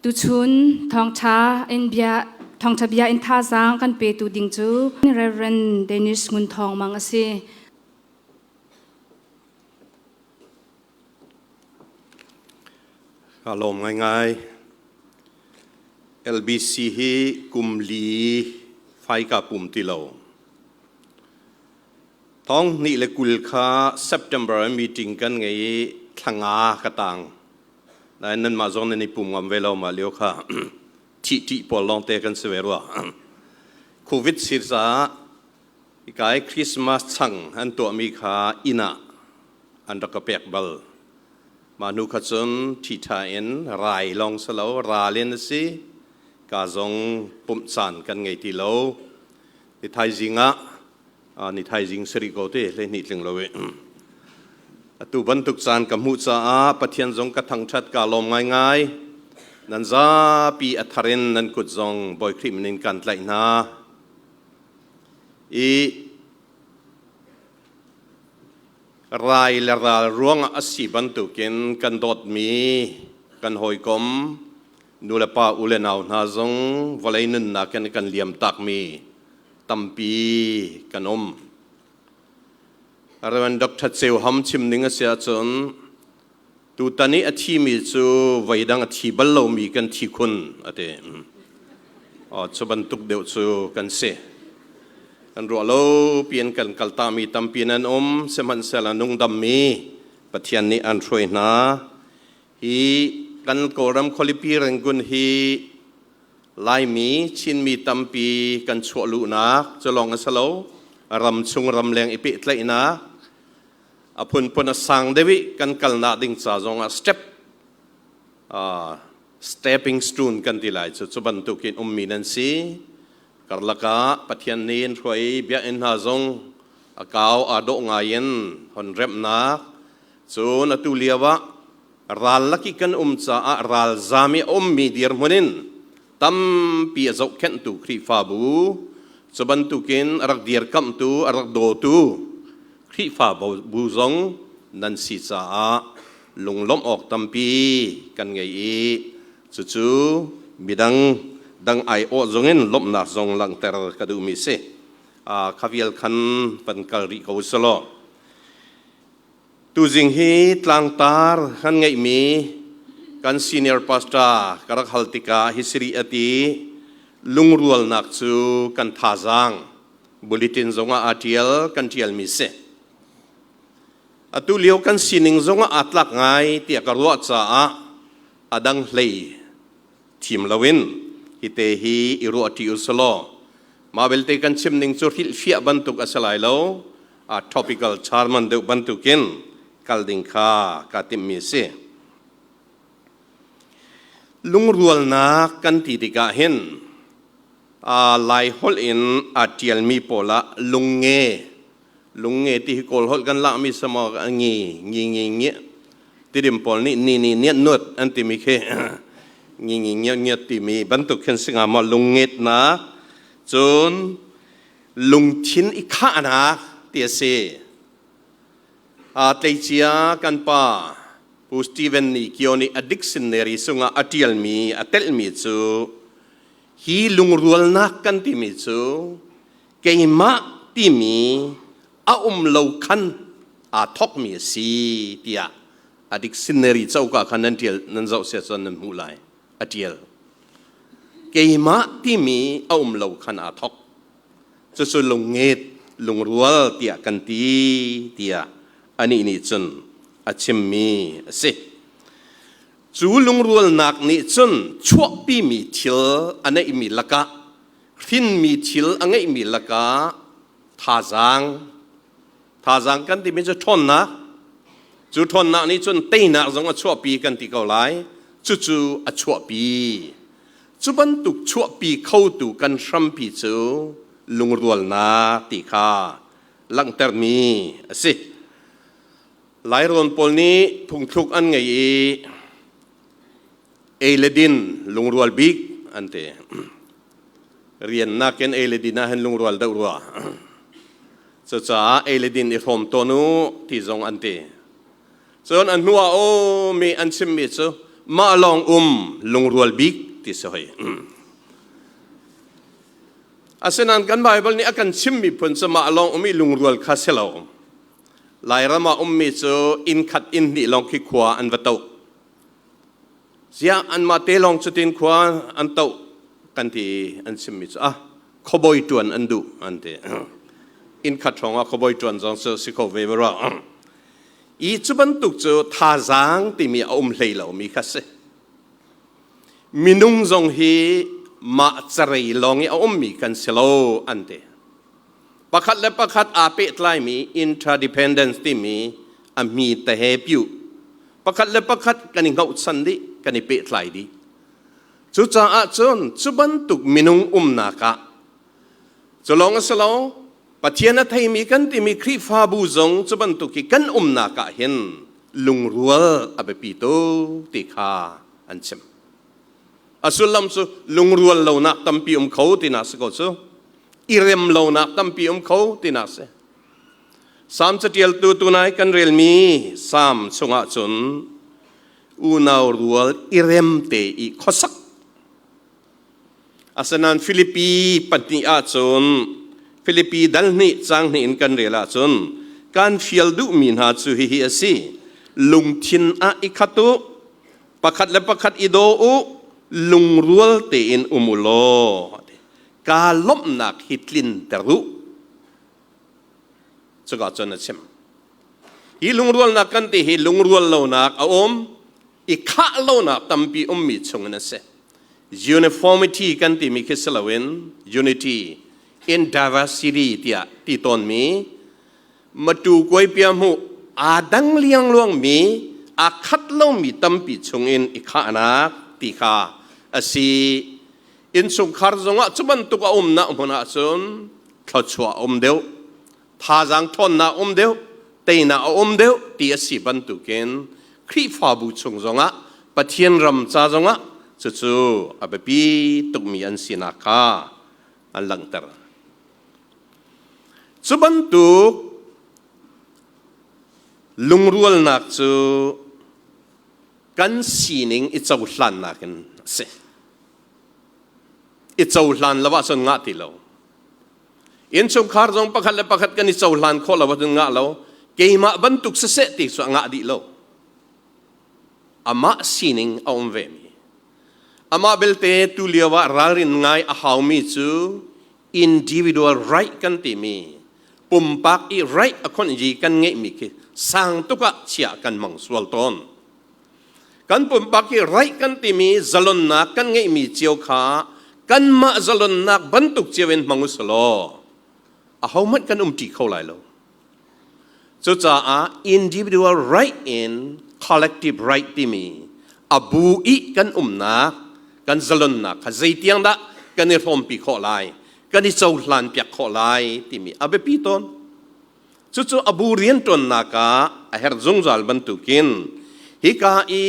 Tuchun thawngṭha in bia thawngṭha bia in thazaang kan petu ding cu Reverend Dennis Ngun Thawng Mang a si. Ka lawm ngaingai. LBC hi kum li fai ka pum ti lo. Thong hnih le kul kha September meeting kan ngei i thlanga ka tang. Nain nanmah zong nan i pum ngam ve lo mah lio kha thihṭih pawl lawngte kan si ve rua. Covid sir caah hika i Christmas chang an tuahmi kha inn ah an rak ka pek bal. Mah hnu kha cun ṭhiṭha in rai lawng si lo, ral in a si. Ka zong pumh caan kan ngei ti lo. Ti thaizing ah ni thaizing sari ko te hleihnih tling lo e atu bantuk caan ka hmuh caah pathian zong ka thangthat ka lawm ngaingai nan zapi atharin nan kut zong bawi khrih minin kan tlaih hna i rai le ral ruangah a si bantukin kan dawtmi kan hawikom nulepa u le nau hna zong vawlei nunnak in kan liam takmi tampi kan um. Reverend Dr. Ceu Ham chim ning a si ahcun tutan i a thimi cu voidang a thi bal lomi kan thi khun a ti. Oh, cu bantuk deuh cu kan si. Kan ruah lo pian kan kaltami tampi nan um, sihmanhsehlaw nungdammi Pathian nih an hruai hna. Hi kan Kawlram khualipi Rangoon hi Laimi, Chinmi tampi kan chuah luhnak cu lawng a si lo, ram chung ramleng i pehtlaihnak a phunphun a sang deuh i kan kalnak ding ca zong ah step uh, stepping stone kan ti lai cu. Cu bantukin ummi nan si. Karlak ah Pathian nih an hruai biakinn hna zong a kau aa dawh ngai in hon remhnak Cun atu lioah rallak i kan um caah ralzam i a ummi dirhmun in tampi a zohkhenhtu Khrihfabu, cu bantukin a rak dirkamhtu, a rak dawtu Khrihfabu zong nan si caah lunglawmh awk tampi kan ngei i cucu midang dang aiawh zongin lawmhnak zong langhter ka duhmi a si. Kha vial khan van kal rih ko u sih law, Tuzing hi tlangtar kan ngeihmi kan senior pastor ka rak hal tikah hi siri a ti lungrualnak cu kan thazaang bulletin zongah aa ṭial kan ṭialmi si. Atu lio kan sining zongah aa tlak ngai tiah ka ruah caah a dang hlei thim loin hite hi i ruah ṭi usulaw mah belte kan chim ning cu hrilhfiah bantuk a si lai lo a topical sermon deuh bantukin kal ding kha ka timhmi a si lungrualnak kan ti tikah hin aa lai holh in aa ṭialmi pawl ah lungnge Lunge ti hi kawl holh kan lakmi sama a ngi ngi ngi ngi tidim pawl nih ni ni niat nuat an timi khi ngi ngi ngiat ngiat timi bantuk khin singa ma lungngetnak cun lungthin i khahnak ti a si a tleicia kan pa Pu Stephen nih kio nih a dictionary sungah a ṭialmi a telhmi cu hi lungrualnak kan timi cu keimah timi a um lo khan aa thawkmi a si tiah a dictionary coka khan nan tial nan zoh sia cun nan hmuh lai a tial keimah timi a um lo khan aa thawk cucu lungnget lungrual tiah kan ti tiah anih nih cun a chimmi a si cu lungrualnak nih cun chuahpimi thil a neihmi lakah hrinmi thil a ngeihmi lakah thazaang thazaang kan timi cu ṭhawnnak cu ṭhawnnak nih cun teinak zong a chuahpi kan ti ko lai cucu a chuahpi cu bantuk chuahpi khotu kan hrampi cu lungrualnak ti kha langhtermi a si lairawn pawl nih phungthluk an ngei i ei le din lungrual bik an te riannak in ei le din ah hin lungrual deuh rua cucaah ei le din i hrawm tawn u ti zong an ti cun a hnuah um i an chimmi cu mah lawng um lungrual bik ti si hoi asinain kan baibal nih a kan chimmi phun cu mah lawng um i lungrual kha si lo Lairam ah ummi cu inn khat inn hnih lawng khi khua an va toh. Ziah anmah te lawng cutin khua an toh kan ti i an chimmi cu ah khuaboi ṭuan an duh an ti. Inn khat hrawngah khuaboi ṭuan zong cu si kho ve ve rua. I cu bantuk cu thazaang timi a um hlei lomi kha si. Minung zong hi mah carei lawng i a ummi kan si lo an ti. pakhat le pakhat aa pehtlaimi interdependence timi a hmi te he piu pakhat le pakhat kan i ngohsan dih kan i pehtlai dih cucaah cun cu bantuk minung umnak ah cu lawng a si lo pathian a theimi kan timi khrihfabu zong cu bantuk i kan umnak ah hin lungrual a biapi tuk ti kha an chim A sullam cu lungrual lonak tampi um kho tinak si ko cu. Irem lonak tampi um kho tinak si. Salm catialtu tunai kan relmi Salm chungah cun unau rual irem te i khosak Asinain Filipi pahnih ahcun Filipi dal hnih cang hnih in kan rel ahcun kan fial duhmi hna cu hihi a si lungthin ah i khat u pakhat le pakhat i daw u lungrual tein um u law kaa lawmhnak hi tlinter u cuka cun a chim hi lungrualnak kan ti hi lungrual lonak a um i khah lonak tampi ummi chungin a si uniformity kan timi khi si loin unity in diversity tiah ti tawnmi matu kuai pia mu aa dang liangluangmi aa khat lomi tampi chungin i khahnak ti kha a si innchungkhar zongah cu bantuk a umnak hmun ahcun thluachuah a um deuh thazaang ṭhawnnak a um deuh teinak a um deuh ti a si bantukin Khrihfabu chung zongah Pathian ram ca zongah cucu a biapi tukmi an sinak kha an langhter. Cu bantuk lungrualnak cu kan sining i cohlannak in a si. I cohlan lo ahcun ngah ti lo. Innchungkhar zong pakhat le pakhat kan i cohlan khawh lo ahcun ngah lo. Keimah bantuk siseh ti cu a ngah dih lo. Amah sining a um vemi. Amah belte tu lio ah ralrin ngai a haumi cu individual right kan timi pumpak i right a khon i kan ngeihmi khi sang tuk ah chiah kan mang sual tawn kan pumpak i right kan timi zalonnak kan ngeihmi cio kha kanmah zalonnak bantuk cio in hmang usih law ahohmanh kan um ṭi kho lai lo Cucaah individual right in collective right timi a bu i kan umnak kan zalonnak kha zeitiang dah kan i hrawmpi khawh lai kan i cohlan piak khawh lai timi a biapi tawn cucu a bu rianṭuannak ah a herh zungzal bantukin hika i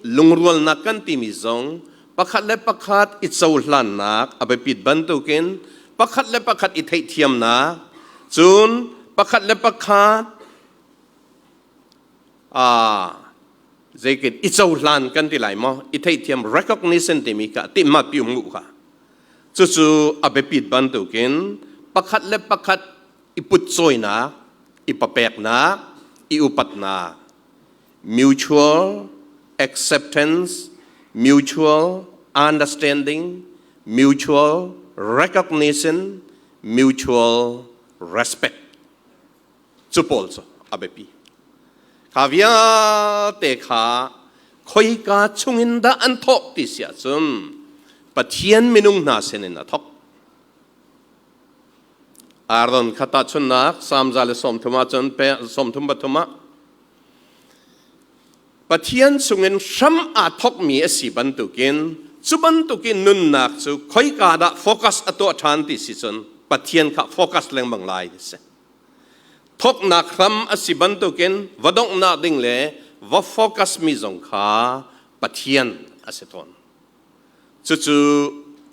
lungrualnak kan timi zong pakhat le pakhat i cohlannak a biapit bantukin pakhat le pakhat i theihthiamnak cun pakhat le pakhat aa zeikin i cohlan kan ti lai maw i theihthiam recognition timi kha timmat pi um u kha cucu a biapit bantukin pakhat le pakhat i putcawinak i papeknak i upatnak mutual acceptance, mutual understanding, mutual recognition, mutual respect. Cu pawl cu a biapi. Kha vialte kha khoika chungin dah an thawk ti si ahcun Pathian minung hna sinin a thawk. Ardan khat tahchunnak Psalm za le sawmthum ahcun sawmthum pathum ah Pathian chungin hram aa thokmi a si bantukin cu bantukin nunnak cu khoika dah focus a tuah ṭhan ti si cun Pathian kha focus lengmang lai ti si. Thoknak hram a si bantukin va donghnak ding le va focus mi zong kha Pathian a si tawn. Cucu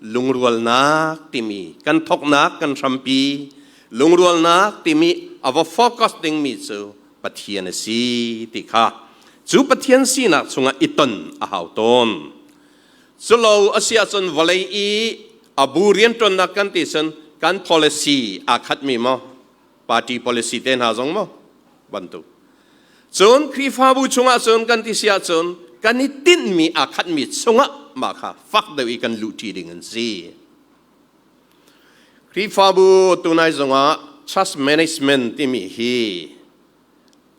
lungrualnak timi kan thoknak kan hrampi lungrualnak timi a va focus dingmi cu Pathian a si ti kha cu Pathian sinak chungah i ton a hau tawn. Culo a si ahcun vawlei i a bu rianṭuannak kan ti cun kan policy aa khatmi maw? party policy te hna zong maw bantuk cun Khrihfabu chungah cun kan ti si ahcun kan i tinhmi aa khatmi chungah mah kha fak deuh i kan luhṭi ding an si Khrihfabu tunai zongah trust management timi hi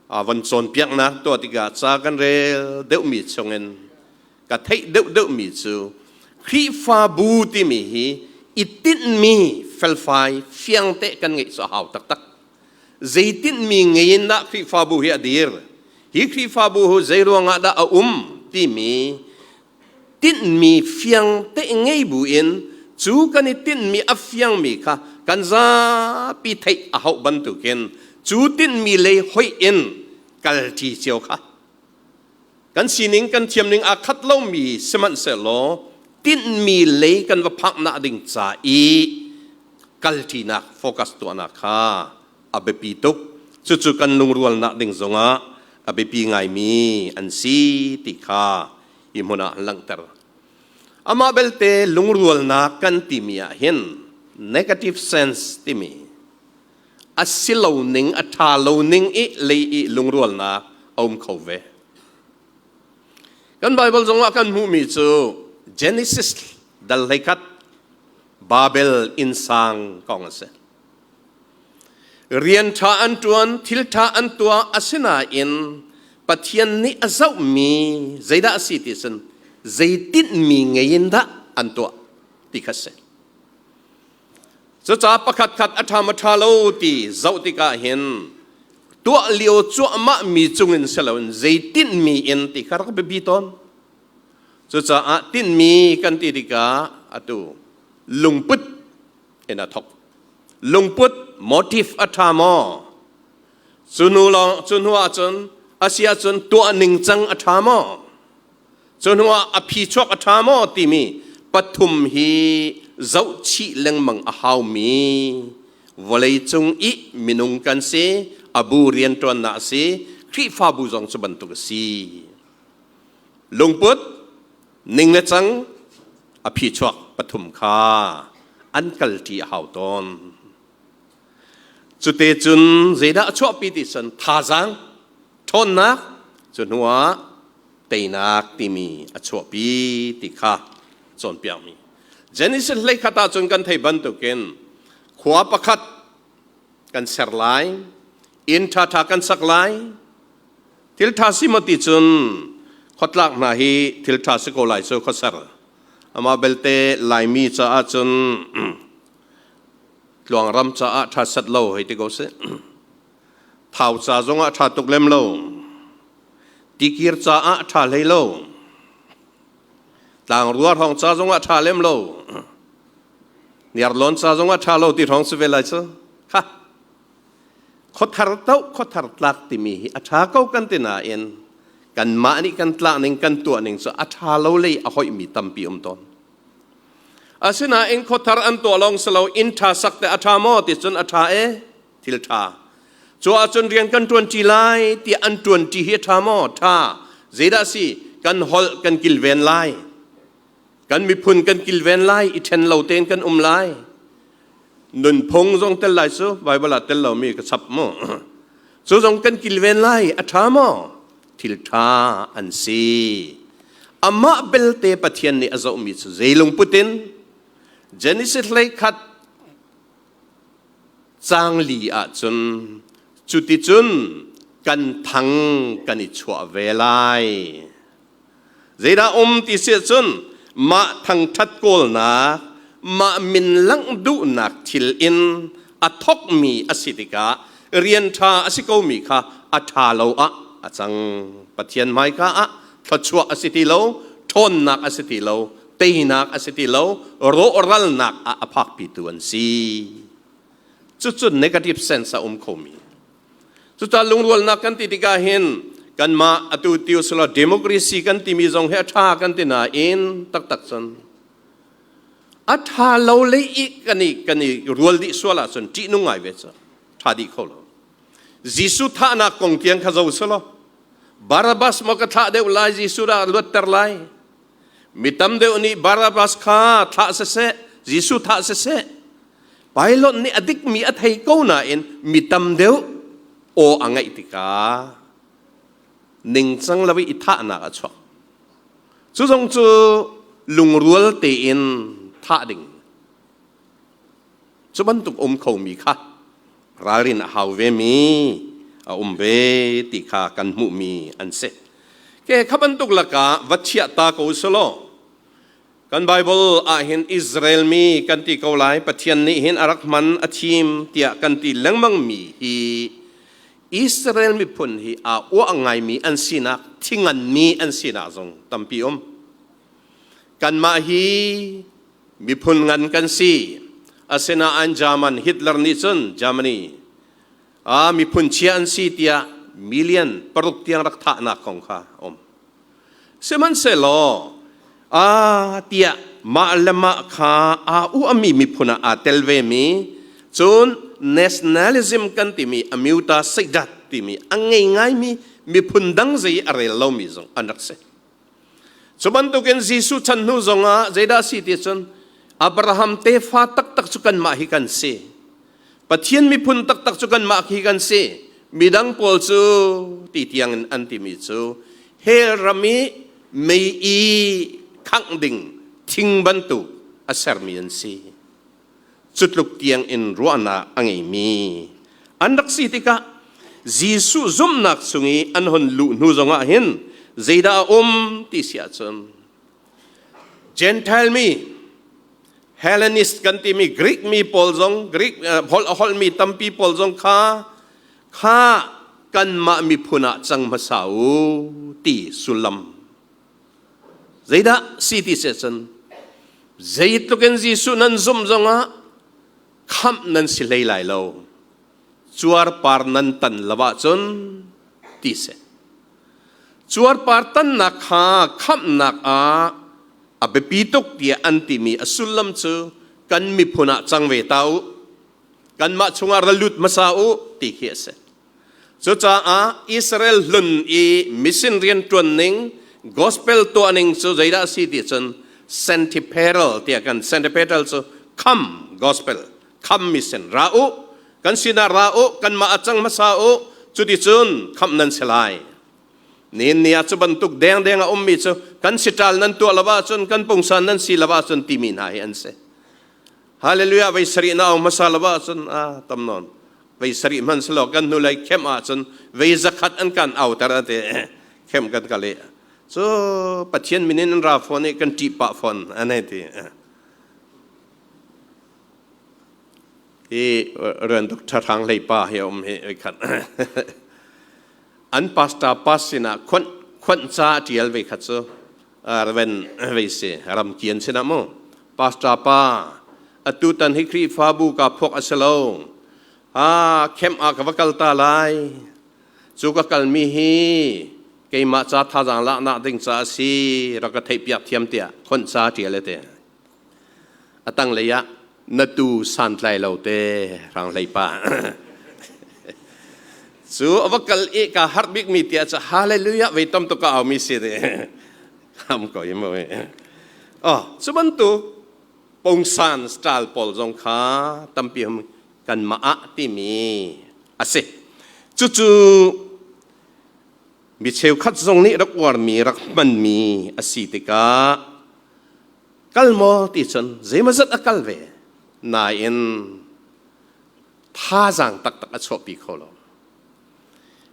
a van cawnpiaknak tuah tikah ca kan rel deuhmi chungin ka theih deuhdeuhmi cu Khrihfabu timi hi i tinhmi felfai fiangte kan ngeih cu a hau taktak. Zei tinhmi ngei in dah Khrihfabu hi a dir? Hi Khrihfabu hu zei ruangah dah a um timi tinhmi fiangte ngei buin cu kan i tinhmi a fiangmi kha kan zapi theih a hauh bantukin cu tinhmi lei hoih in kalṭi cio kha kan sining kan thiam ning aa khat lomi sihmanhsehlaw tinhmi lei kan va phaknak ding ca i kalṭinak focus tuahnak kha a biapi tuk cucu kan lungrualnak ding zongah a biapi ngaimi an si ti kha hi hmun ah langhter amah belte lungrualnak kan timi ah hin negative sense timi a si lo ning a ṭha lo ning i lei i lungrualnak a um kho ve kan baibal zongah kan hmuhmi cu genesis dal hleikhat babel insang kong a si rian ṭha an ṭuan thil ṭha an tuah asinain pathian nih a zohmi zeidah a si ti sin zeitinmi ngei in dah an tuah ti kha si Cuca pakhat khat a ṭham a ṭha lo ti zoh tikah hin tuah lio cuahmah mi cungin si loin zei tinhmi in ti kha rak biapi tawn. Cucaah tinhmi kan ti tikah atu lungput in a thok. Lungput motive a ṭha maw? Cu nu lawng cu hnu ahcun a si ahcun tuah ningcang a ṭha maw? Cuhnu ah a phi chuak a ṭha maw timi pathum hi zohchih lengmang a haumi vawleicung i minung kan si, a bu rianṭuannak a si, Khrihfabu zong cu bantuk a si. Lungput, ning le cang, a phi chuak pathum kha an kalṭi a hau tawn. Cute cun zeidah a chuahpi ti cun thazaang, ṭhawnnak, cu hnuah teinak timi a chuahpi ti kha cawnpiakmi. Genesis hleikhat ah cun kan theih bantukin khua pakhat kan ser lai, inn ṭhaṭha kan sak lai. Thilṭha si maw ti cun khotlak hna hi thilṭha si ko lai cu khuaser. Amah belte Laimi caah cun tluangram caah ṭha set lo hei ti ko sih thau ca zongah ṭha tuk lem lo tikir caah ṭha hlei lo tlangrua hrawng ca zongah ṭha lem lo niarlon ca zongah ṭha lo ti hrawng si ve lai cu ha khothar to khothar tlak timi hi a ṭha ko kan ti nain kanmah nih kan tlak ning kan tuah ning cu a ṭha lo lei a hoihmi tampi um tawn Asinain khothar an tuah lawng si lo inn ṭha sak te a ṭha maw ti cun a ṭha e thil ṭha. Cu ahcun rian kan ṭuanṭi lai ti an ṭuanṭi hi a ṭha maw? Ṭha. Zeidah si? Kan holh kan kilven lai. Kan miphun kan kilven lai i ṭhen lo tein kan um lai. Nunphung zong tel lai cu Baibal ah tel lomi ka chap maw? Cu zong kan kilven lai a ṭha maw? thilṭha an si. Amah belte Pathian nih a zohmi cu zei lungput in Genesis hlei khat cang li ahcun cuticun kan thang kan i chuah ve lai. Zeidah um ti siah cun mah thangṭhat kawlnak, mah min langh duhnak thil in a thokmi a si tikah rian ṭha a si komi kha a ṭha lo ah a cang. Pathian hmaika ah thluachuah a si ti lo, ṭhawnnak a si ti lo, teinak a si ti lo, rawhralnak ah a phakpitu an si. Cucun negative sense a um khomi Cucaan lungrualnak kan ti tikah hin kanmah atu ti usila democracy kan timi zong hi a ṭha kan ti nain taktak cun a ṭha lo le i kan i kan i rual dih sual ahcun ṭihnung ngai ve cu ṭha dih kho lo. Jesuh thahnak kong tiang kha zo selaw Barabbas maw ka thlah deuh lai Jesuh dah luatter lai Mi tam deuh nih Barabbas kha thlah siseh, Jesuh thah siseh, Pilate nih a dikmi a thei ko nain mi tam deuh aw a ngaih tikah ningcang lo i thahnak a chuak. Cu zong cu lungrual tein thah ding Cu bantuk um khomi kha ralrin a hau vemi a um ve ti kha kan hmuhmi an si. Ke kha bantuk lakah va chiah ta ko selaw kan Baibal ahhin Israel mi kan ti ko lai Pathian nih hin a rak hman a thim tiah kan ti lengmangmi hi Israel miphun hi aa uah ngaimi an sinak thingan mi an sinak zong tampi um. Kanmah hi miphun ngan kan si asinain German Hitler nih cun Germany ah miphun chia an si tiah million paruk tiang rak thahnak kong kha a um sihmanhsehlaw a tiah mah le mah kha aa uahmi miphun ah aa tel vemi cun nationalism kan timi amuta seidat timi a ngei ngaimi miphun dang zei a rel lomi zong an rak si Cu bantukin Jesuh chan hnu zongah zeidah si ti cun Abraham tefa taktak cu kanmah hi kan si. Pathian miphun taktak cu kanmah hi kan si. Midang pawl cu ti tiangin an timi cu hell ram i mei i khangh ding thing bantuk a sermi an si. Cutluk tiang in ruahnak a ngeimi an rak si tikah Jesuh zumhnak chung i an hon luh hnu zongah hin zeidah a um ti si ahcun Gentile mi Hellenist kan timi Greek mi pawl zong Greek holh a holhmi tampi pawl zong kha kha kanmah miphun ah cang hmasa u ti sullam Zeidah si ti seh cun zeitluk in Jesuh nan zumh zongah khamh nan si hlei lai lo. Cuarpar nan tan lo ahcun ti seh. Cuarpar tannak kha khamhnak ah a biapi tuk tiah an timi a sullam cu kan miphun ah cang ve ta u. Kanmah chungah ra lut hmasa u ti khi a si. Cucaah Israel hlun i mission rian ṭuan ning gospel tuah ning cu zeidah a si ti cun Santipherol tiah kan Santipherol cu kham gospel kham mission ra u kan sinah ra u kanmah a cang hmasa u cuticun khamh nan si lai nin ni ah cu bantuk dengdeng a ummi cu kan si ṭal nan tuah lo ahcun kan pungsan nan si lo ahcun timi hna hi an si Hallelujah vei sarih na ong hmasa lo ahcun a tam non vei sarih hman salo kan hnu lei khem ahcun vei zakhat an kan auter ate khem kan ka le cu pathian min in ra phone i kan ṭih pa phone anai ti hi ran duk ṭhahrang lei pa hi om hi oi khat an pastor pas sinah khon khon cha ṭial ve khat cu raven vei se ram kian sinah mu pastor pa atutan hi khrihfabu ka phuak a si lo a khem ah ka va kal ta lai cu ka kalmi hi keimah ca thazaang lak nak ding ca a si rak ka theihpiak thiam tiah khon sa ṭial le te a tang lei ah na tu santlai lo te rang hlei pa cu a va kal i ka har bik mi tia ca hallelujah vei tam to ka aumi si ne ham ko im oi oh cu bantuk pungsan style pawl zong kha tampi hum kan mah ah timi asi cucu mi cheukhat zong nih rak uarmi rak hmanmi asi tikah kal maw ti cun zeimazat a kal ve nain thazaang taktak a chuahpi kho lo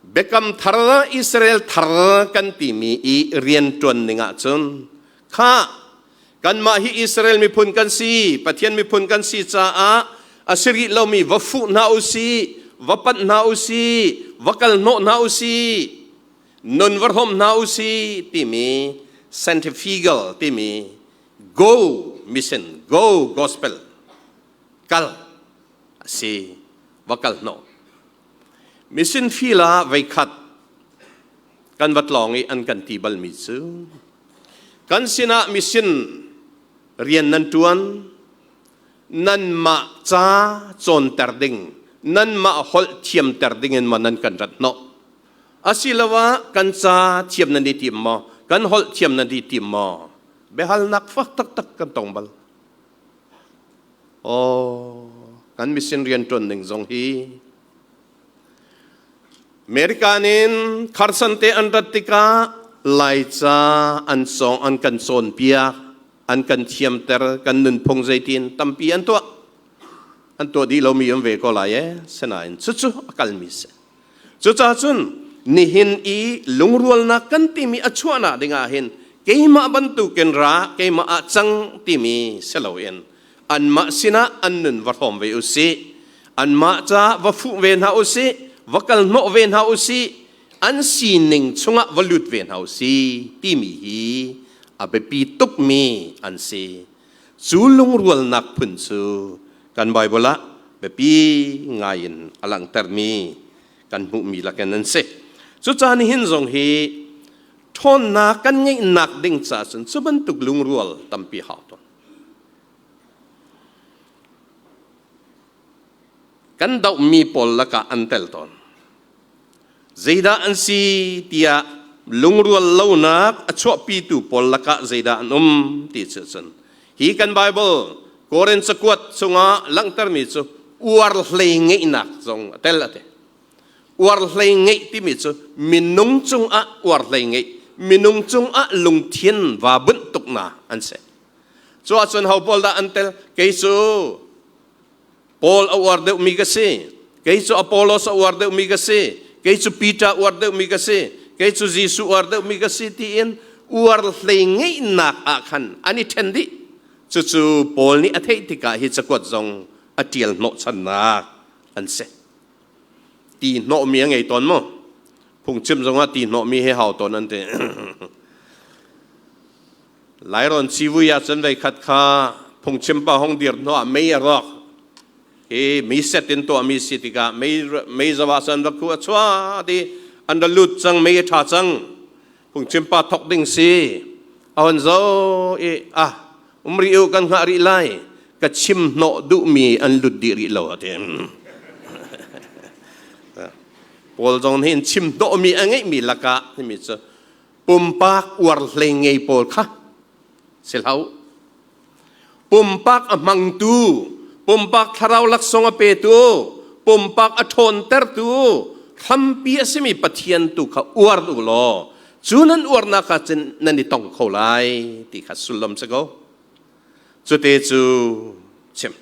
Biakam thar Israel thar kan timi i rian ṭuan ning ahcun kha kanmah hi Israel miphun kan si Pathian miphun kan si caah a si rih lomi va fuh hna u si va panh hna u si va kal hnawh hna u si nun va hrawm hna u si timi centrifugal timi go mission go gospel kal a si va kal hnawh Mission feel ah veikhat kan vat lawng i an kan ti balmi cu kan sinah mission rian nan ṭuan nanmah ca cawnter ding nanmah holh thiamter ding in maw nan kan rat hnawh asiloah kan ca thiam nan i tim maw kan holh thiam nan i tim maw biahalnak fak taktak kan tong bal Aw, kan mission riantuan ning zong hi America nin kharsan te an rat tikah laica an song an kan cawn piak an kan thiamter kan nunphung zeitin tampi an tuah an tuah dih lomi um ve ko lai ee sinain cucu a kalmi si Cucaah cun nihin i lungrualnak kan timi a chuahnak dingah hin keimah bantukin ra keimah ah cang timi si loin anmah sinah an nun va hrawm ve u sih. Anmah ca va fuh ve hna u sih, va kal hnawh ve hna u sih, an sining chungah va lut ve hna u sih timi hi a biapi tukmi an si. Cu lungrualnak phun cu kan Baibal ah biapi ngai in a langhtermi kan hmuhmi lakin an si. Cucaan hin zong hi ṭhawnnak kan ngeihnak ding caah cun cu bantuk lungrual tampi hau tawn. Kan dohmi pawl lakah an tel tawn. Zeidah an si tiah lungrual lonak a chuahpitu pawl lakah zeidah an um ti cu cun hi kan Baibal Korin cakuat chungah langhtermi cu uar hlei ngeihnak zong a tel a ti. Uar hlei ngeih timi cu minung cungah uar hlei ngeih, minung cungah lungthin va bunh tuknak an si. Cu ahcun ho pawl dah an tel? Kei cu Paul a uar deuhmi ka si. Kei cu Apollos a uar deuhmi ka si. Kei cu Peter uar deuhmi ka si. Kei cu Jesuh uar deuhmi ka si tiin uar hlei ngeihnak ah khan an i ṭhen dih. Cucu Paul nih a theih tikah hi cakuat zong a ṭial hnawhchannak an si. Ti hnawhmi a ngei tawn maw? Phungchim zongah ti hnawhmi hi hau tawn an ti. Lairawn civui ah cun veikhat kha phungchim pa hong dir hnu ah mei a rawk i mi set in tuahmi si tikah mei mei zau ah cun va khu a chuah i an ra lut cang mei a ṭha cang phungchim pa thawk ding si a hon zo i ah um rih u kan hngah rih lai ka chim hnawh duhmi an lut dih rih lo a ti Paul zong nih chim hnawhmi a ngeihmi lakah timi cu pumpak uarhlei ngei pawl kha si hlo pumpak a hmangtu pumpak thlarau laksawng a petu pumpak a ṭhawntertu hrampi a simi pathian tu kha uar u law cu nan uarnak kha cun nan i tong kho lai ti kha sullam si ko cute cu chim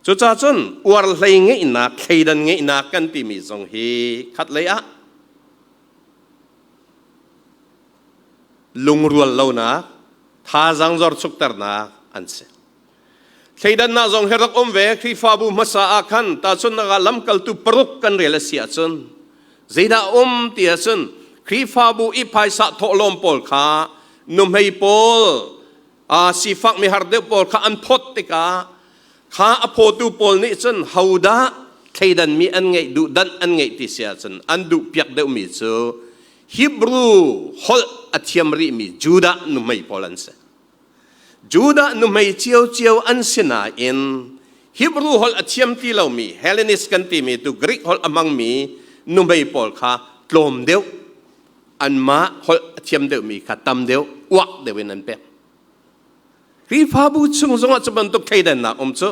cucah cun uarhlei ngeihnak thleidan ngeihnak kan timi zong hi khatlei ah lungrual lonak thazaang zorchukternak an si thleidannak zong hi rak um ve khrihfabu hmasa ah khan tahchunhnak ah lamkaltu paruk kan rel a si ahcun zeidah um ti ahcun khrihfabu i phaisa thawhlawm pawl kha nuhmei pawl aa sifakmi har deuh pawl kha an phawt tikah kha a phawtu pawl nih cun hodah thleidanmi an ngeih duhdanh an ngeih ti si ahcun an duh piak deuhmi cu Hebrew holh a thiam rihmi Judah nuhmei pawl an si Judah nuhmei ciocio an si nain Hebrew holh a thiam ti lomi Hellenist kan timi tu Greek holh a hmangmi nuhmei pawl kha tlawm deuh anmah holh a thiam deuhmi kha tam deuh uak deuh in an pek Khrihfabu chung zongah cu bantuk thleidannak um cu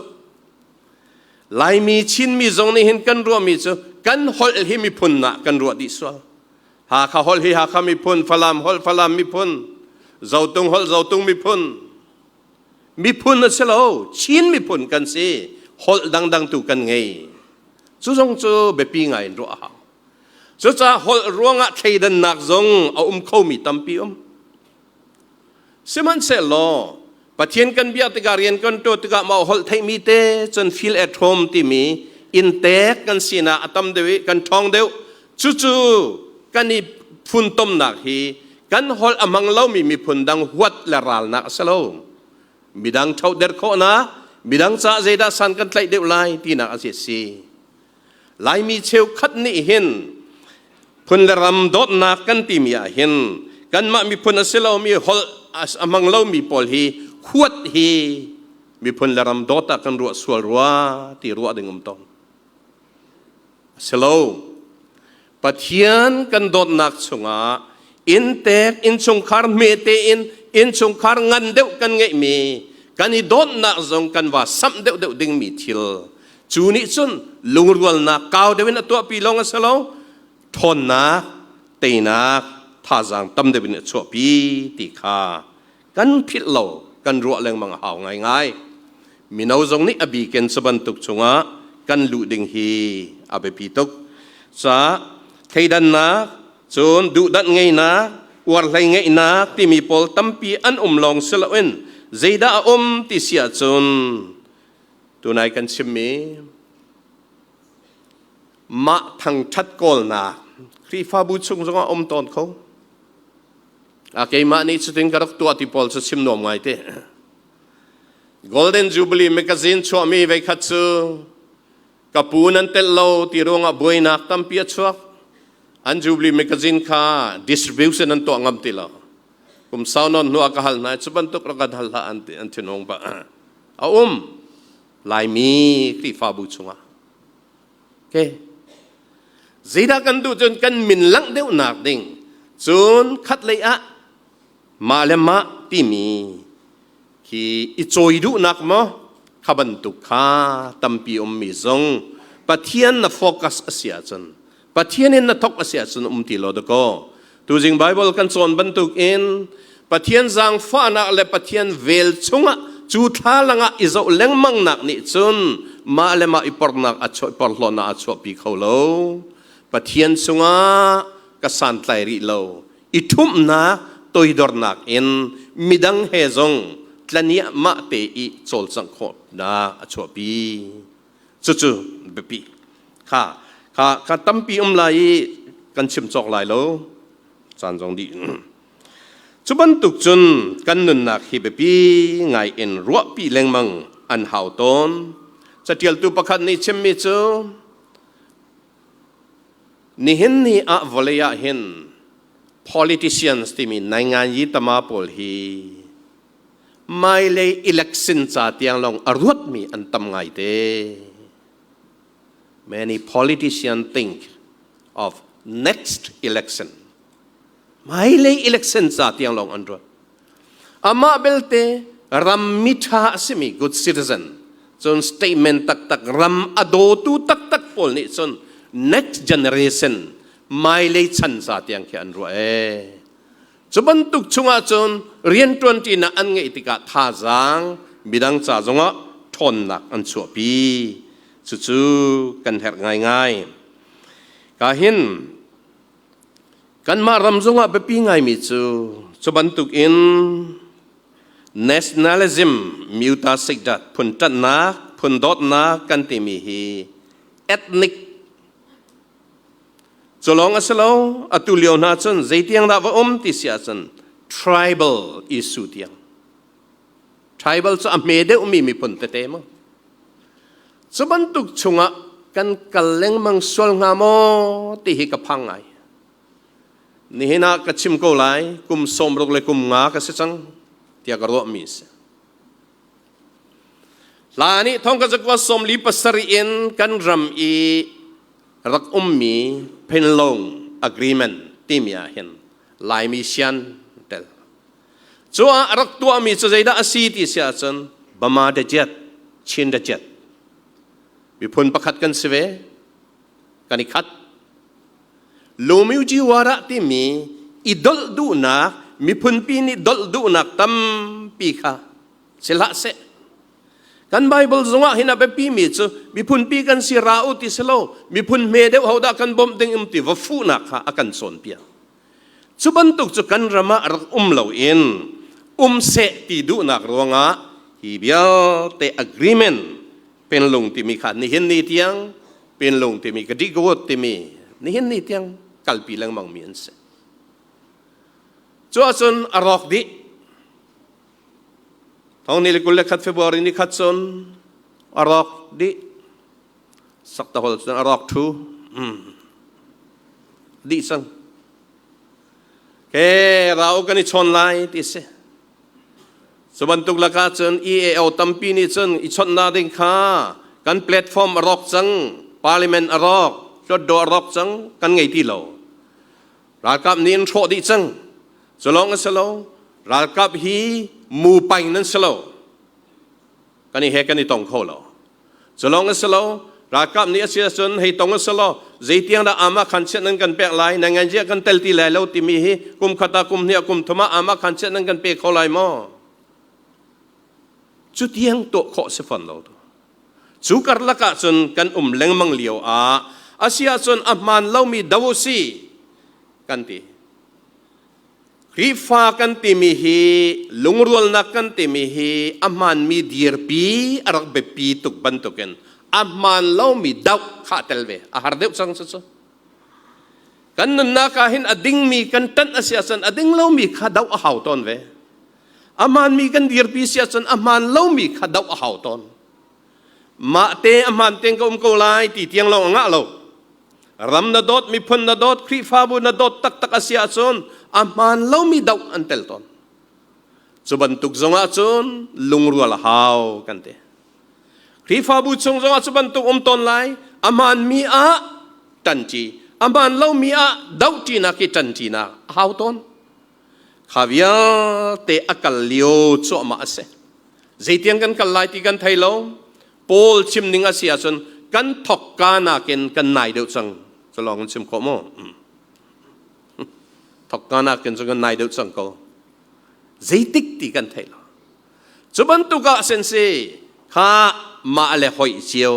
Laimi Chinmi zong nih hin kan ruahmi cu kan holh hi miphun ah kan ruah dih sual Hakha holh hi Hakha miphun Falam holh Falam miphun Zotung holh Zotung miphun miphun a si lo Chin miphun kan si holh dangdang tu kan ngei cu zong cu biapi ngai in ruah a hau Cucaah holh ruangah thleidannak zong a um khomi tampi um. Sihmanhsehlaw Pathian kan biak tikah rian kan ṭuan tikah mah holh theihmi te cun feel at home timi in tek kan sinak a tam deuh i kan ṭhawng deuh. Cucu kan i funtomnak hi kan holh a hmang lomi miphun dang huat le ralnak a si lo. Midang ṭhoh der khawhnak, midang caah zeidah san kan tlaih deuh lai tinak a si si. Laimi cheukhat nih hin phun le ram dawtnak kan timi ah hin kanmah miphun a si lomi holh a hmang lomi pawl hi huat hi miphun le ram dawt ah kan ruah sual rua ti ruah ding um tawn. A si lo. Pathian kan dawtnak chungah inntek innchungkhar hmete in innchungkhar ngan deuh kan ngeihmi kan i dawtnak zong kan va samh deuhdeuh dingmi thil cu nih cun lungrualnak kau deuh in a tuahpi lawng a si lo ṭhawnnak teinak thazaang tam deuh in a chuahpi ti kha kan philh lo kan ruah lengmang a hau ngaingai. Mino zong nih a biken cubantuk chungah kan luh ding hi a biapi tuk. Ca thleidannak, cun duhdanh ngeinak, uarhlei ngeihnak timi pawl tampi an um lawng si loin zeidah a um ti si ahcun tunai kan chimmi mah thangṭhat kawlnak Khrihfabu chung zongah a um tawn kho. a keimah nih cutin ka rak tuah ti pawl cu chim nuam ngai te golden jubilee magazine chuahmi veikhat cu ka pu nan telh lo ti ruangah buainak tampi a chuak an jubilee magazine kha distribution an tuah ngam ti lo kum sau non hnu ka hal hna cu bantuk ra kan hal hlah an ti an thinhung ba a um laimi krifabu chungah Okay. Zeidah kan duh cun kan min langh deuhnak ding cun khat lei ah mah le mah timi khi i cawi duhnak maw kha bantuk kha tampi ummi zong Pathian na focus a si ahcun Pathian in na thok a si ahcun um ti lo dakaw Tuzing Bible kan cawn bantukin Pathian zaangfahnak le Pathian vel chungah cu thlalang ah i zoh lengmangnak nih cun mah le mah i pornak a chuah porhlawnah a chuahpi kho lo. Pathian chungah ka santlai rih lo i ṭhumhnak toidornak in midang he zong tlaniah mah te i cawlcangh khawhnak a chuahpi. cucu biapi kha kha kha tampi um lai i kan chim cawk lai lo caan zong dih cu bantuk cun kan nunnak hi biapi ngai in ruahpi lengmang an hau tawn catialtu pakhat nih chimmi cu nihin ni ah vawlei ah hin politicians timi naingan yi tama pawl hi Hmailei election ca tiang lawng a ruatmi an tam ngaite. Many politicians think of next election. Hmailei election ca tiang lawng an ruat. Amah belte ram mitha a simi good citizen cun statement taktak ram a dawtu taktak pawl nih cun next generation mailei chan ca tiang khi an ruah ee. Cu bantuk chungah cun rianṭuanṭinak an ngeih tikah thazaang midang ca zongah ṭhawnnak an chuahpi. Cucu kan herh ngaingai. Ka hin kanmah ram zongah biapi ngaimi cu cu bantukin nationalism mutasik dat phun ṭanhnak phun dawtnak kan timi hi ethnic Culawng a si lo, atu lio hna cun zeitiang dah va um ti si ahcun tribal Isu tiang. Tribal cu a hme deuhmi miphun tete maw? Cu bantuk chungah kan kal lengmang sual hnga maw ti hi ka phang ngai. Nihin ah ka chim ko lai, kum sawmruk le kum nga ka si cang, tiah ka ruahmi a si. Hla nih thongkhat zakua sawmli pasarih in kan ram i rak ummi pinlong agreement timi ah hin Laimi sian tel cu ah rak tuahmi cu zeidah a si ti si ahcun Bama daciat Chin daciat miphun pakhat kan si ve kan i khat Lomujiwara timi i dolh duhnak miphunpi nih dolh duhnak tampi kha si hlah seh kan Bible zungah hin a biapi mi cu miphunpi kan si ra u ti si lo miphun hme deuh hodah kan bawmh ding um ti va fuhnak kha a kan cawnpiak cu bantuk cu kan ram ah rak um lo in um seh ti duhnak ruangah hi vialte agreement pinlung timi kha nihin ni tiang pinlung timi kadigot timi nihin ni tiang kalpi lengmang mi an si cuahcun a rawk dih thong ni le kul le khat february ni khat cun a rawk dih sak tahol cun a rawk thu mm. dih sang Ke rau kan i chon lai ti si. Cu bantuk lakah cun EAO tampi nih cun i chonhnak ding kha kan platform a rawk cang, parliament a rawk, hlutdaw a rawk cang, kan ngei ti lo. Ralkap nih an hrawh dih cang. Cu lawng a si lo, ralkap hi mu paing nan si lo. Kan i he kan i tong kho lo. Culawng a si lo, ralkap nih a si ahcun hei tong a si law zeitiang dah aamah khan chiat nan kan pek lai, nan nganzia kan tel ti lai lo timi hi kum khat ah kum hnih ah kum thum ah aamah khan chiat nan kan pe kho lai maw? Cu tiang tuah khawh si fawn lo tu. Cu karlak ah cun kan um lengmang lio ah a si ahcun a hmaan lomi do u si kan ti. Khrihfa kan timi hi lungrualnak kan timi hi a hmaanmi dirpi a rak biapi tuk bantukin a hmaan lomi doh kha tel ve a har deuh cang cucu. Kan nunnak ah hin a dingmi kan ṭanh a si ahcun a ding lomi kha doh a hau tawn ve. A hmaanmi kan dirpi si ahcun a hmaan lomi kha doh a hau tawn. Mah te a hmaan tein ka um ko lai ti tiang lawng a ngah lo. Ram na dawt, miphun na dawt, Khrihfabu na dawt taktak a si ahcun a hmaan lomi doh an tel tawn. Cu bantuk zongah cun lungrual a hau kan ti. Khrihfabu chung zongah cu bantuk um tawn lai. A hmaanmi ah ṭanṭi, a hmaan lomi ah dohṭinak i ṭanṭinak a hau tawn. Kha vialte a kal lio cuahmah a si. Zeitiang kan kal lai ti kan thei lo. Paul chim ning a si ahcun kan thokka nakin kan nai deuh cang cu lawng in chim khawh maw? thokka nakin cu kan nai deuh cang ko zeitik ti kan theih lo cu bantuk ah sen si kha mah le hoih cio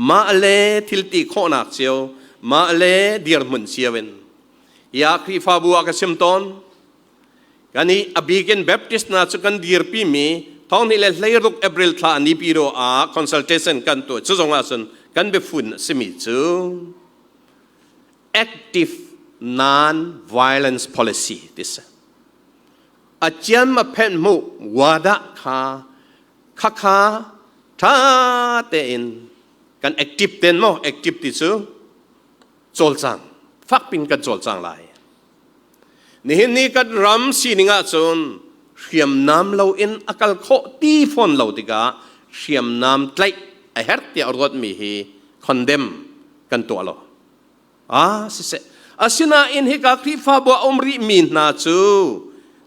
mah le thilti khawhnak cio mah le dirhmun cio in ya Khrihfabu ah ka sim tawn Kani abikin Baptist hna cu kan dirpimi thonghnih le hleiruk April thla ni piro ah consultation kan tuah cu zong ahcun kan biafun a simi cu active non-violence policy ti si. A ciam a phenh mu wadah kha khakha tha tein kan active ten maw active ti cu cawlcang fakpin kan cawlcang lai nihin ni kan ram sining ahcun hriamnam loin a kal khawh ti fawn lo tikah hriamnam tlaih a herh tiah ruatmi hi condemn kan tuah lo ah siseh asinain hika khrihfabu a um rih mi hna cu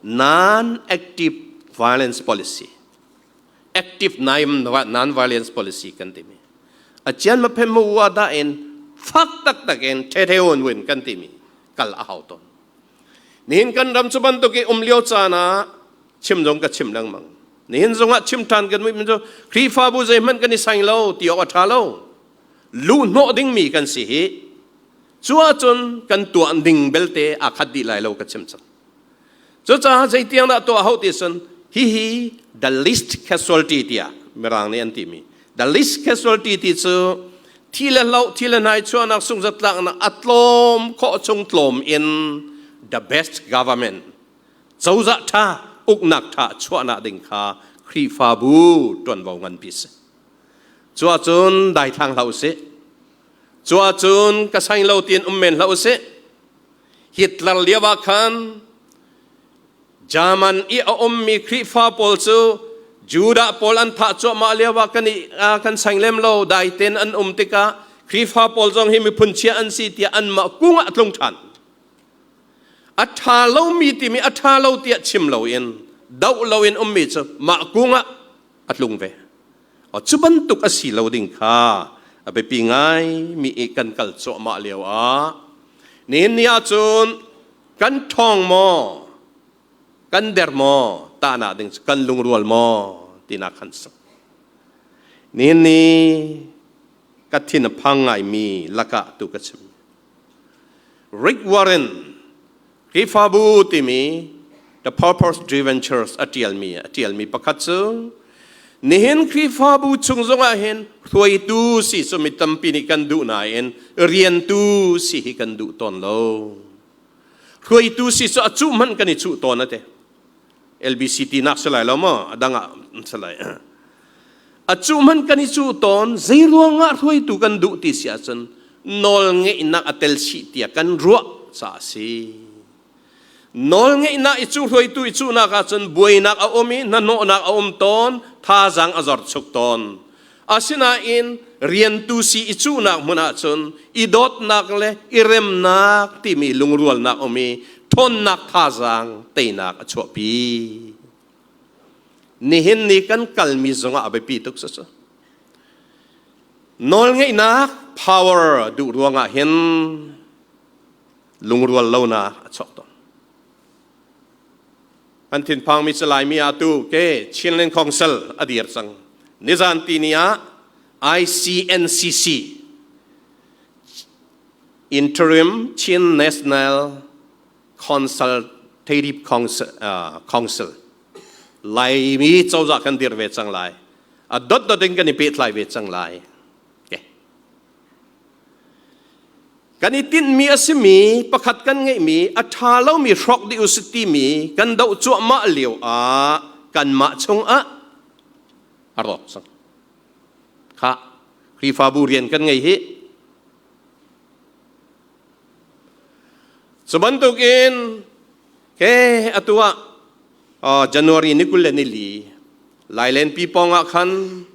non active violence policy active non violence policy kan timi acian ma phem ma u da in fak taktak in thethe un win kan timi kal a hau ton nihin kan ram chu bantuk i um lio caan ah chim zong ka chim lengmang nihin zongah chim than kan mi min cu Khrihfabu zei hmanh kan i sang lo ti awk a tha lo lu hnawh ding mi kan si hi cuacun kan tuan ding belte akhat dih lai lo ka chim cang Cucaah zeitiang dah tuah hau ti cun hihi the least casualty tiah mirang nih an timi the least casualty ti cu thi le hlo thi le nai chuahnak sunghzatlaknak a tlawm khawh chung tlawm in the best government cozah ṭha uknak ṭha chuahnak ding kha Khrihfabu ṭuanvo nganpi si cuahcun daithlang hlah usih cuahcun ka sang lo tiin um men hlah usih Hitler lio ah khan German i a ummi Khrihfa pawl cu Judah pawl an thah cuahmah lio ah kan, kan sang lem lo dai ten an um tikah Khrihfa pawl zong hi miphun chia an si tiah anmah kung ah tlung ṭhan. A ṭha lomi timi a ṭha lo tiah chim loin doh loin ummi cu mah kung ah a tlung ve. cu bantuk a si lo ding kha a biapi ngaimi i kan kal cuahmah lio ah nihin ni ahcun kan ṭhawng maw kan der maw tahnak ding cu kan lungrual maw tinak kan sak nihin ni ka thin a phang ngaimi lakah tu ka chim Rick Warren Khrihfabu timi The Purpose Driven Church a ṭialmi a ṭialmi pakhat cu nihin Khrihfabu chung zongah hin hruaitu si cu mi tampi nih kan duh nain riantu si hi kan duh tawn lo. Hruaitu si cu a cuh hmanh kan i cuh tawn a ti. LBCT nak si lai lo maw adang ah an si lai acu hman kan i cu ton zeiruang ah hruaitu kan duh ti si ahcun nawl ngeihnak a tel si tiah kan ruah ca si nawl ngeihnak i cu hruaitu i cunak ahcun buainak a um i hnahnawhnak a um tawn thazaang a zor chuk tawn Asinain rian tu si i cuhnak hmun ah cun i dawtnak le i remnak timi lungrualnak um i ṭhawnnak thazaang teinak a chuahpi. Nihin ni kan kalmi zongah a biapi tuk cucu. Nawlngeihnak power duh ruangah hin lungrual lonak a chuak tawn. An thinphang mi Laimi ah tu ke Chinland Council a dir cang. Nizan tini ah ICNCC Interim Chin National Consultative Council, uh, Council Laimi cozah kan dir ve cang lai. A dot dot in kan i pehtlai ve cang lai. Okay. Kan i tinhmi a simi pakhat kan ngeihmi a ṭha lomi hrawk dih u sih timi kan doh cuahmah lio ah kanmah chungah a rawk cang. Kha Khrihfabu rian kan ngei hi. Cu bantukin ke atu ah uh, January ni kul le nili Lailenpi pawngah khan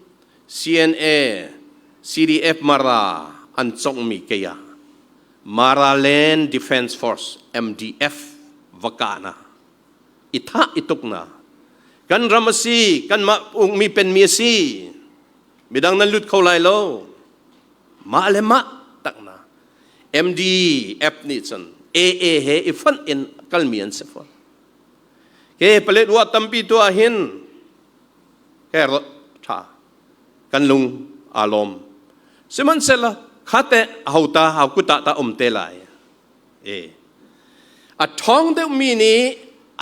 CNA, CDF Mara an conghmi Kaya, Maraland Defence Force, MDF, va kahna i thah i tukna kan ram a si, kanmah ukmi penmi a si, midang nan lut kho lai lo. Mah le mah takna MDF nih cun AA he i fonh in kalmi an si fawn. ke paletwa tampi tu ah hin her tha kan lung aa lawm sihmanhsehlaw khate ahota haukuta ta um te lai e a thong deuhmi nih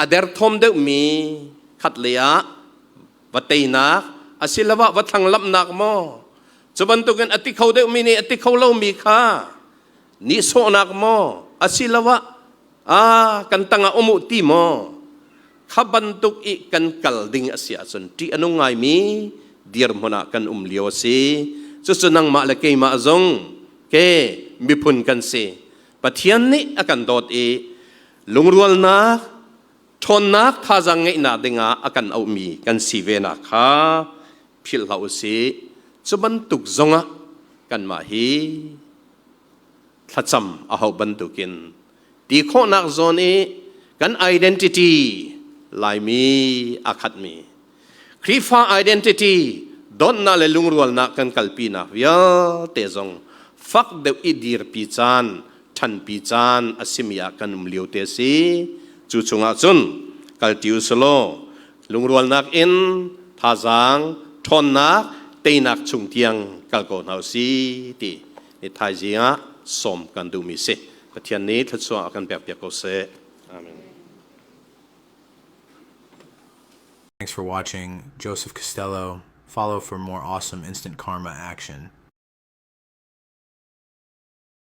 a derthawm deuhmi khat le ah va teinak asiloah va thlanglamnak maw cu bantukin a ti kho deuhmi nih a ti kho lomi kha nihsawhnak maw asiloah ah kan tangah um u ti maw kha bantuk i kan kal ding a si ahcun ṭih a nung ngaimi dirhmun ah kan um lio a si cucu nangmah le keimah zong ke miphun kan si pathian nih a kan dawt i lungrualnak ṭhawnnak thazaang ngeihnak dingah a kan auhmi kan si venak kha philh hlah u sih cu bantuk zongah kanmah hi thlacam a hauh bantukin ti khawhnak zawn i kan identity laimi a khatmi Khrihfa identity donnak le lungrualnak kan kalpinak vialte zong fak deuh i dirpi caan ṭhanpi caan a simi ah kan um lio te si cu chungah cun kalti u selaw lungrualnak in thazaang ṭhawnnak teinak chung tiang kal ko hna u si ti Hi thaizing ah sawm kan duhmi si. Pathian nih thluachuah a kan pekpiak ko seh. Amen. Thanks for watching. Joseph Costello, follow for more awesome instant karma action.